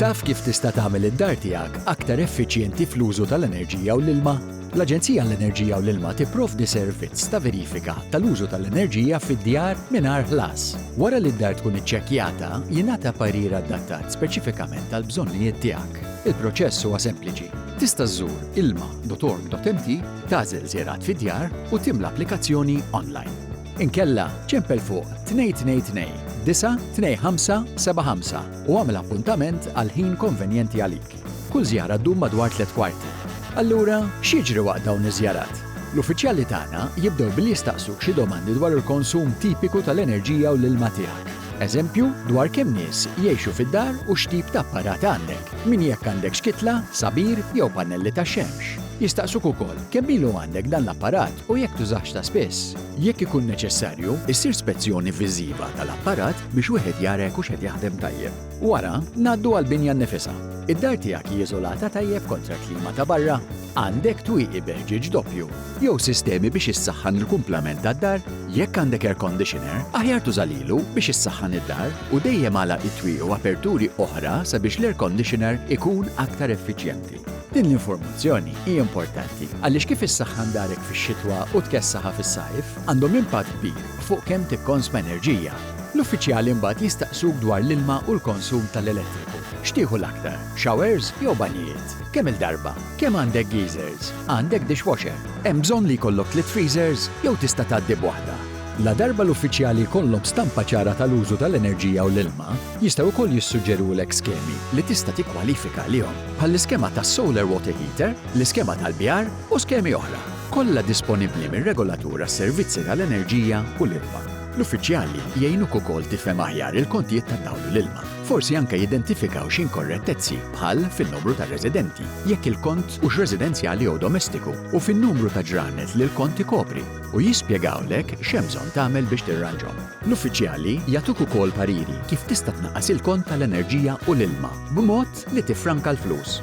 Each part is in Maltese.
Taf kif tista' tagħmel id-dar tiegħek aktar effiċjenti fl-użu tal-enerġija u l-ilma? L-Aġenzija għall-Enerġija u l-Ilma tipprovdi servizz ta' verifika tal-użu tal-enerġija fid-djar mingħajr ħlas. Wara li d-dar tkun iċċekkjata, jingħata parir adattat speċifikament għall-bżonnijiet tiegħek. Il-proċess huwa sempliċi. Tista' żżur ilma.org.mt, tagħżel żjarat fid-djar u timla applikazzjoni online. Inkella, ċempel fuq 222-92575 u agħmel appuntament għal ħin konvenjenti għalik. Kull żjara ddum madwar tliet kwarti. Allura, x'jiġri waqt dawn iż-żjarat? L-uffiċjali tagħna jibdew billi jistaqsuk xi domandi dwar il-konsum tipiku tal-enerġija u l-ilma tiegħek. Eżempju, dwar kemm nies jgħixu fid-dar u x'tip ta' apparat għandek, minn jekk għandekx kitla, sabir jew pannelli tax-xemx. Jistaqsuk ukoll kemm ilu għandek dan l-apparat u jekk tużahx ta' spiss. Jekk ikun neċessarju, issir spezzjoni viżiva tal-apparat biex wieħed jara jekk hux qed jaħdem tajjeb. Wara, ngħaddu għall-binja nnifisha. Id-dar tiegħek hi iżolata tajjeb kontra l-klima ta' barra? Għandek twieqi b'ħġieġ doppju jew sistemi biex issaħħan il-kumplament tad-dar? Jekk għandek air conditioner, aħjar tuża lilu biex issaħħan id-dar u dejjem agħlaq it-twieqi u aperturi oħra sabiex l-air conditioner ikun aktar effiċjenti. Din l-informazzjoni hi importanti għaliex kif issaħħan darek fix-xitwa u tkessaħha fis-sajf għandhom impatt kbir fuq kemm tikkonsma enerġija. L-uffiċjali mbagħad jistaqsuk dwar l-ilma u l-konsum tal-elettriku. X'tieħu l-aktar, showers jew banjijiet? Kemm-il darba? Kemm għandek geezers? Għandek dishwasher? Hemm bżonn li jkollok tliet freezers jew tista' tgħaddi b'waħda? Ladarba l-uffiċjali jkollhom stampa ċara tal-użu tal-enerġija u l-ilma, jistgħu wkoll jissuġġerulek skemi li tista' tikkwalifika għalihom, bħall-iskema tas-solar water heater, l-iskema tal-bjar u skemi oħra, kollha disponibbli mir-Regolatur għas-Servizzi tal-Enerġija u l-Ilma. L-uffiċjali jgħinuk ukoll tifhem aħjar il-kontijiet tad-dawl u l-ilma. Forsi anke jidentifikaw xi inkorrettezzi, bħal fin-numru ta' residenti, jekk il-kont hux residenzjali jew domestiku, u fin-numru ta' ġranet li l-kont ikopri. u jispjegawlek x'hemm bżonn tagħmel biex tirranġhom. L-uffiċjali jagħtuk ukoll pariri kif tista' tnaqqas il-kont tal-enerġija u l-ilma b'mod li tiffranka l-flus.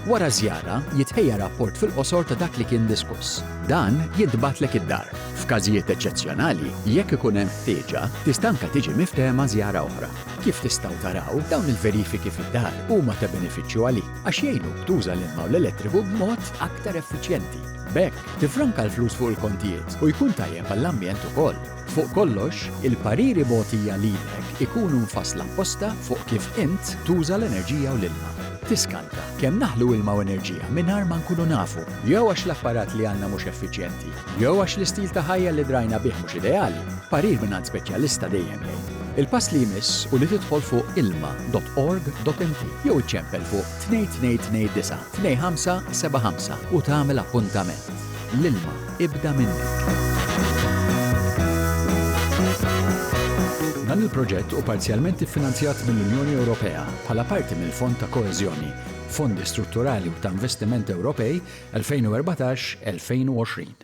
Wara ż-żjara, jitħejja rapport fil-qosor ta' dak li kien diskuss. Dan jintbagħtlek id-dar. F'każijiet eċċezzjonali, jekk ikun hemm ħtieġa, tista' anke tiġi miftehma żjara oħra. Kif tistgħu taraw, dawn il-verifiki fid-dar huma ta' benefiċċju għalik għax jgħinuk tuża l-ilma u l-elettriku b'mod aktar effiċjenti. B'hekk, Tiffranka l-flus fuq il-kontijiet u jkun tajjeb għall-ambjent ukoll. Fuq kollox, il-pariri mogħtija lilek ikunu mfassla apposta fuq kif int tuża l-enerġija u l-ilma. Tiskanta, kemm naħlu ilma u enerġija mingħajr ma nkunu nafu, jew għax l-apparat li għandna mhux effiċjenti, jew għax l-istil ta' ħajja li drajna bih mhux ideali, parir mingħand speċjalista dejjem jgħin. Il-pass li jmiss hu li tidħol fuq ilma dot org dot md jew iċċempel fuq 2229. 2575 u tagħmel appuntament. L-ilma ibda minnek. Dan il-proġett hu parzjalment iffinanzjat mill-Unjoni Ewropea bħala parti mill-Fond ta' Koeżjoni, Fondi Strutturali u ta' Investiment Ewropej 2014-2020.